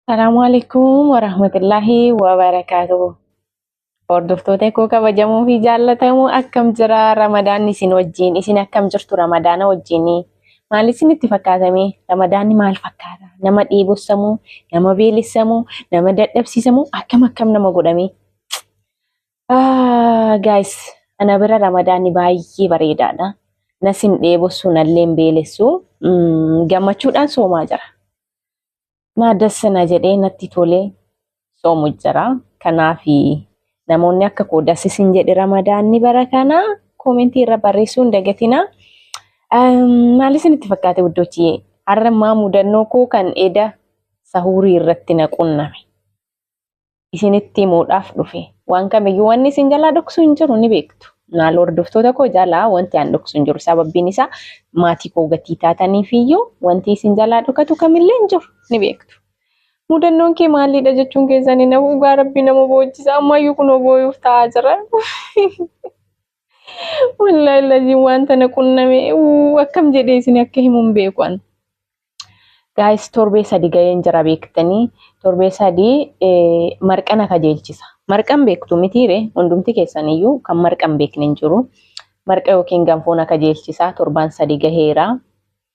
Salaamu alaikum wa rahmatullahi wa barakatuhu. Hordoftoota koo kabajamoo fi jaallatamoo akkam jira Ramadaanni isin wajjin isin akkam jirtu Ramadaana wajjin maal isinitti fakkaatame Ramadaanni maal fakkaata nama dheebossamuu nama beelessamuu nama dadhabsiisamuu akkam akkam nama godhame Ah, guys, ana bira ramadaanni baay'ee bareedaadha. Nas hin dheebossu, nallee hin beelessu. Mm, gammachuudhaan soomaa jira. Naa dassa na jedhee natti tolee soomu jira. Kanaaf namoonni akka koo dassis hin jedhe ramadaanni bara kana koomentii irra barreessuu hin dagatinaa. Um, maal isinitti fakkaate wuddochiyee? Har'a ammaa mudannoo koo kan eda sahuurii irratti na qunname. isinitti himuudhaaf dhufe. Waan kamiyyuu wanni isin jalaa dhoksu hin jiru ni beektu. Maal hordoftoota koo jalaa wanti aan dhoksu hin jiru. Sababbiin isaa maatii koo gatii taataniif iyyuu wanti isin jalaa dhokatu kamillee hin jiru ni beektu. Mudannoon kee maaliidha jechuun keessan hin hafu dhugaa rabbii nama boochisa ammaayyuu kunoo booyuuf ta'aa jira. Wallaahi laziin waan tana qunname uu, akkam jedhee isin akka himu hin beeku an. Gaayis torbee sadi ga'een jira beektanii torbee sadi eh, marqana kajeelchisa. Marqan beektu mitiire hundumti keessaniyyuu kan marqan beekne hin jiru. Marqa yookiin ganfoona kajeelchisa torbaan sadi gaheera.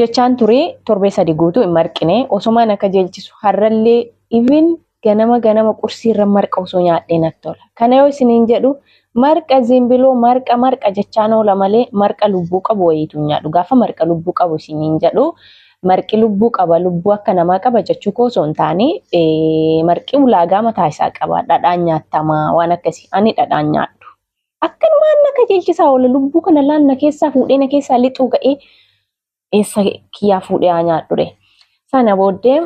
jechaan turee torbee sadi guutuu hin marqine osomaan akka jeelchisu harrallee even ganama ganama qursii irra marqa osoo nyaadhee natti tola. Kana yoo isiniin jedhu marqa zimbiloo marqa marqa jechaan oola malee marqa lubbuu qabu wayiitu hin nyaadhu. Gaafa marqa lubbuu qabu isiniin jedhu marqi lubbuu qaba lubbuu akka namaa qaba jechuu koo osoo hin taane marqi ulaagaa mataa isaa qaba dhadhaan nyaattamaa waan akkasii ani dhadhaan nyaadhu. Akkanumaan na qajeelchisaa oola lubbuu kana laan na keessaa fuudhee na keessaa lixuu ga'ee eessa kiyyaa fuudhee haa nyaadhure. Sana booddee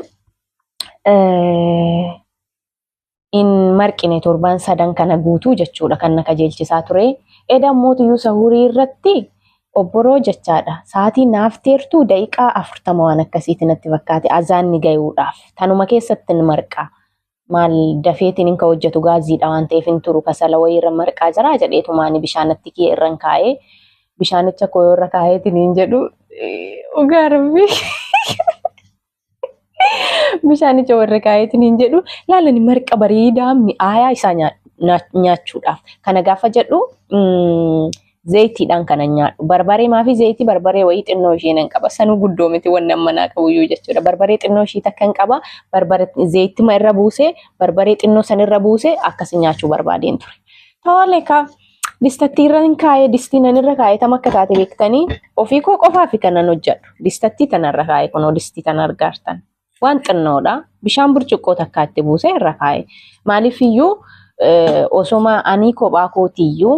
hin marqine torbaan sadan kana guutuu jechuudha kan na qajeelchisaa ture. Eda mootiyyuu sahurii irratti obboroo jechaadha. Sa'aatii naaf teertuu daqiiqaa afurtama waan akkasiiti natti fakkaate azaanni gayuudhaaf. Tanuma keessatti hin marqa. maal dafeetiin hin ka hojjetu gaaziidha waan ta'eef hin turu kasala wayii irra marqaa jira jedheetumaani bishaanatti kiyya irra hin kaa'ee bishaanicha koo irra kaa'eetiin hin jedhu dhugaa rabbi bishaanicha warra kaa'eetiin hin jedhu laalani marqa bareedaa mi'aayaa isaa nyaachuudhaaf kana gaafa jedhu Zayitiidhaan kanan nyaadhu. Barbaree maafi zayitii barbaree wayii xinnoo ishee nan qaba. Sanuu guddoo miti wanni amma naa qabuyyuu jechuudha. Barbaree xinnoo ishii takkan qaba. Barbare zayitima irra buusee barbaree xinnoo san irra buusee akkasi nyaachuu barbaadeen ture. Tole ka distattii irra hin kaa'ee distii nan irra kaa'ee tam akka taate beektanii ofii koo qofaa fi kanan hojjedhu. Distattii tana irra kaa'ee kunoo distii tana argaartan. Waan xinnoodha. Bishaan burcuqqoo takkaa itti buusee irra kaa'e. Maaliif iyyuu osoma anii kophaa kootiyyuu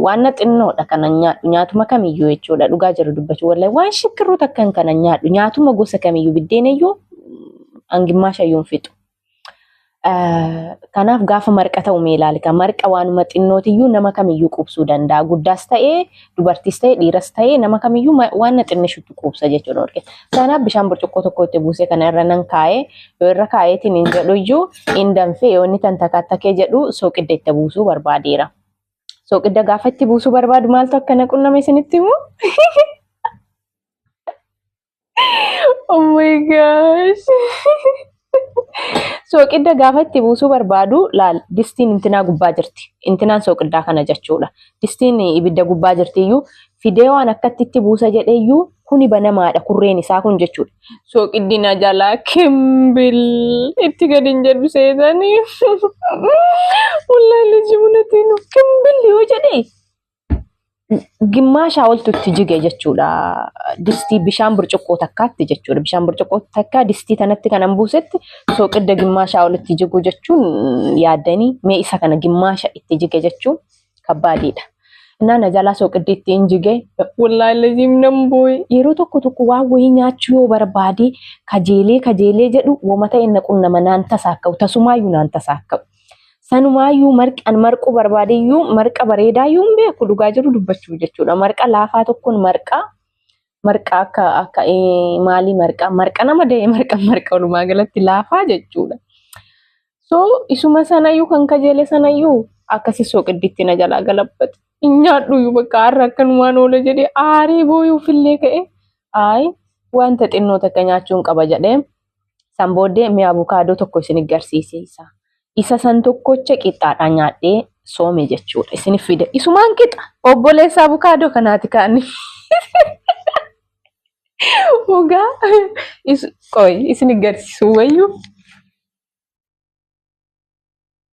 waan xinnoodha kana nyaadhu nyaatuma kamiyyuu jechuudha dhugaa jiru dubbachuu wallahi waan shikkirruu takkan kana nyaadhu nyaatuma gosa kamiyyuu biddeenayyuu hangimmaa shayyuun fixu Kanaaf gaafa marqa ta'u mee ilaali. Marqa waanuma xinnootiyyuu nama kamiyyuu quubsuu danda'a. Guddaas ta'ee dubartiis ta'ee dhiiras ta'ee nama kamiyyuu waan xinnishutti quubsa jechuudha. Kanaaf bishaan burcuqqoo tokko itti buusee kana irra nan kaa'ee yoo irra kaa'eetiin hin jedhuyyuu hin danfee yoo inni tan takaatakee jedhu sooqidda itti buusuu barbaadeera. Sooqidda gaafa itti buusuu barbaadu maaltu akkana qunname isinitti himu? Oh my gosh. Sooqidda gaafa itti buusuu barbaadu laal distiin intinaa gubbaa jirti. Intinaan sooqiddaa kana jechuudha. Distiin ibidda gubbaa jirti iyyuu fidee waan akkatti itti buusa jedhee iyyuu kuni banamaadha kurreen isaa kun jechuudha. Sooqiddi na jalaa kimbil itti gadi hin jedhu seetanii. Wallaahi liji munatiin kimbil yoo jedhee gimmaashaa oltu itti jige jechuudha. Distii bishaan burcuqqoo takkaatti jechuudha. Bishaan burcuqqoo takkaa distii tanatti kanan buusetti sooqidda gimmaashaa olitti jiguu jechuun yaadanii mee isa kana gimmaasha itti jige jechuun kabbaadiidha. Innaa na jalaa sooqiddi ittiin jige wallaahi laziim nan booye yeroo tokko tokko waan wayii nyaachuu yoo barbaade kajeelee kajeelee jedhu woma ta'e na qunnama naan tasaakka'u tasumaayyuu naan tasaakka'u. Sanumaayyuu marqan marquu barbaadeyyuu marqa bareedaa yoo hin beeku dhugaa jiru dubbachuu jechuudha. Marqa laafaa tokkoon marqaa marqa akka akka maalii marqa marqa nama da'e marqa marqa walumaa galatti laafaa jechuudha. So isuma sanayyuu kan kajeele sanayyuu akkasi soqidditti na jalaa galabbate. Hin nyaadhuyyuu bakka har'a akkanumaan oola jedhee aaree booyuufillee ka'e. Ayi wanta xinnoo takka nyaachuun qaba jedhee. San booddee mee abukaadoo tokko isin garsiisiisa. Isa san tokkocha qixxaadhaan nyaadhee soome jechuudha. Isin fide. Isumaan qixa. Obboleessa abukaadoo kanaati kaanii. Dhugaa. Qoy isin garsiisuu wayyuu.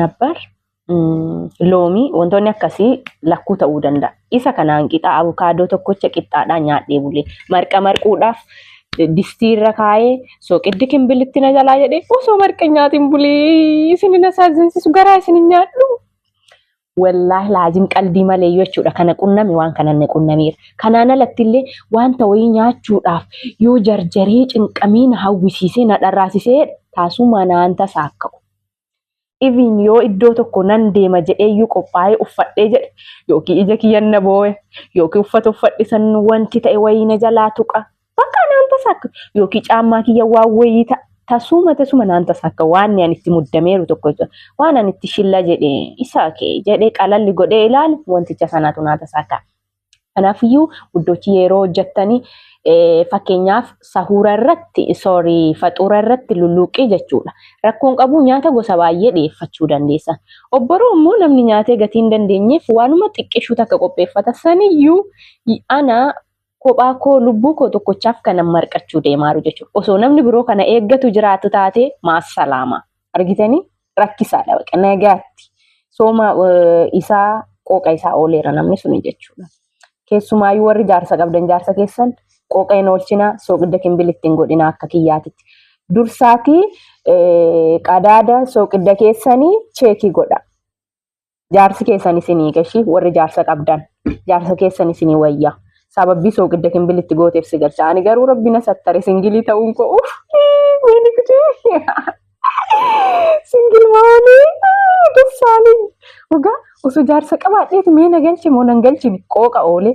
nabbar loomii wantoonni akkasii lakkuu ta'uu danda'a. Isa kanaan qixaa abukaadoo tokkocha qixxaadhaa nyaadhee bulee marqa marquudhaaf distii irra kaa'ee sooqiddi kimbilitti na jalaa jedhee osoo marqa nyaatiin bulee isin na saazinsisu garaa isin nyaadhu. Wallaahi laazim qaldii malee jechuudha kana qunname waan kanan na qunnameera. Kanaan alatti illee wanta wayii nyaachuudhaaf yoo jarjaree cinqamee na hawwisiisee na dharraasisee taasumaa naan tasa akka Even yoo iddoo tokko nan deema jedhee iyyuu qophaa'ee uffadhee jedhe yookiin ija kiyyan na boo'e yookiin uffata uffadhe san wanti ta'e wayii na jalaa tuqa Bakka naan tasa akka yookiin caammaa kiyya waan wayii ta- tasuma tasuma naan tasa akka waan ani itti muddameeru tokko jira. Waan ani itti shilla jedhe isa kee jedhe qalalli godhee ilaale wanticha sanaatu naa tasa akka. Kanaafiyyuu guddochi yeroo hojjettanii eh, fakkeenyaaf sahuura irratti sorry faxuura irratti lulluuqqii jechuudha. Rakkoon qabu nyaata gosa baay'ee dhiyeeffachuu dandeessa. Obboroo immoo namni nyaatee gatii hin dandeenyeef waanuma xiqqishuu takka qopheeffata saniyyuu y- ana kophaa koo lubbuu koo tokkochaaf kanan marqachuu deemaaru jechuudha. Osoo namni biroo kana eeggatu jiraatu taate maasalaama. Argitanii rakkisaadha baqa nagaatti. Sooma isaa qooqa isaa ooleera namni suni jechuudha. Keessumaayyuu warri jaarsa qabdan jaarsa keessan qooqa hin oolchina sooqidda kimbili ittiin godhina akka kiyyaatitti. Dursaatii qadaada sooqidda keessanii cheekii godha. jaarsi keessan isinii gashi warri jaarsa qabdan jaarsa keessan isinii wayya sababbii sooqidda kimbil itti gooteef si galcha ani garuu rabbi na sattare singilii ta'uun koo uff wayni kutuu singil maanii dessaalin dhugaa osoo jaarsa qabaadheeti mee na galche moo nan galchine qooqa oolee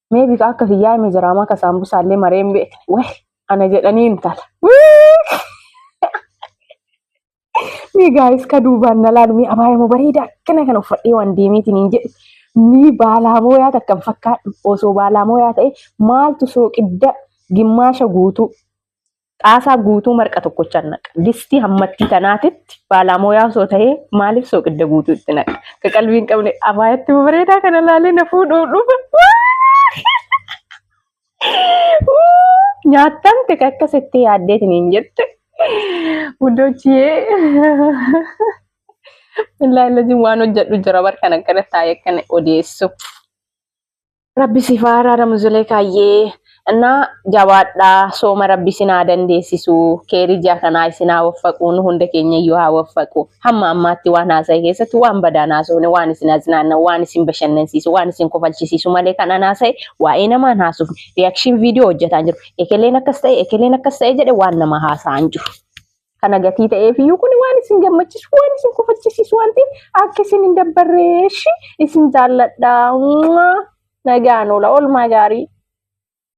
Mee bifa akka kiyyaa hime jiraamaa ka saambusaallee maree hin beekne. Weh ana jedhanii intala. Mee gaayis ka duubaan na laalu mee abaayee moo bareedaa akkana kana uffadhee waan deemeetiin hin jedhu. Mee baalaa moo yaa takkan fakkaadhu osoo baalaa moo yaa ta'e maaltu sooqidda gimmaasha guutuu xaasaa guutuu marqa tokkochaan naqa. Distii hammattii tanaatitti baalaamoyaa osoo ta'ee maaliif sooqidda guutuu itti naqa? Ka qalbii hin qabne abaayatti bareedaa kana laalee na fuudhuu dhufa. Nyaattamte ka akkas itti yaaddeetiin hin jette. Wudochiyee. Illaa illaa waan hojjedhu jira bar kan akkana taa'ee akkana odeessu. Rabbi sifaa araaramu Zulekaayyee. Innaa jabaadhaa sooma rabbi isin haa dandeessisu keerii ji'a kanaa isin haa waffaqu nu hunda keenya iyyuu haa waffaqu hamma ammaatti waan haasa'e keessatti waan badaan haasofne waan isin aznaanna waan isin bashannansiisu waan isin kofalchisiisu malee kan an haasa'e waa'ee namaan haasofne reaction viidiyoo hojjetaan jiru ekeleen akkas ta'e ekeleen akkas ta'e jedhe waan nama haasa'an jiru. kana gatii ta'eef iyyuu kun waan isin gammachiisu waan isin kofachisiisu waan ta'eef akka isin hin dabbarreeshi isin jaalladha nagaan oola oolmaa gaarii.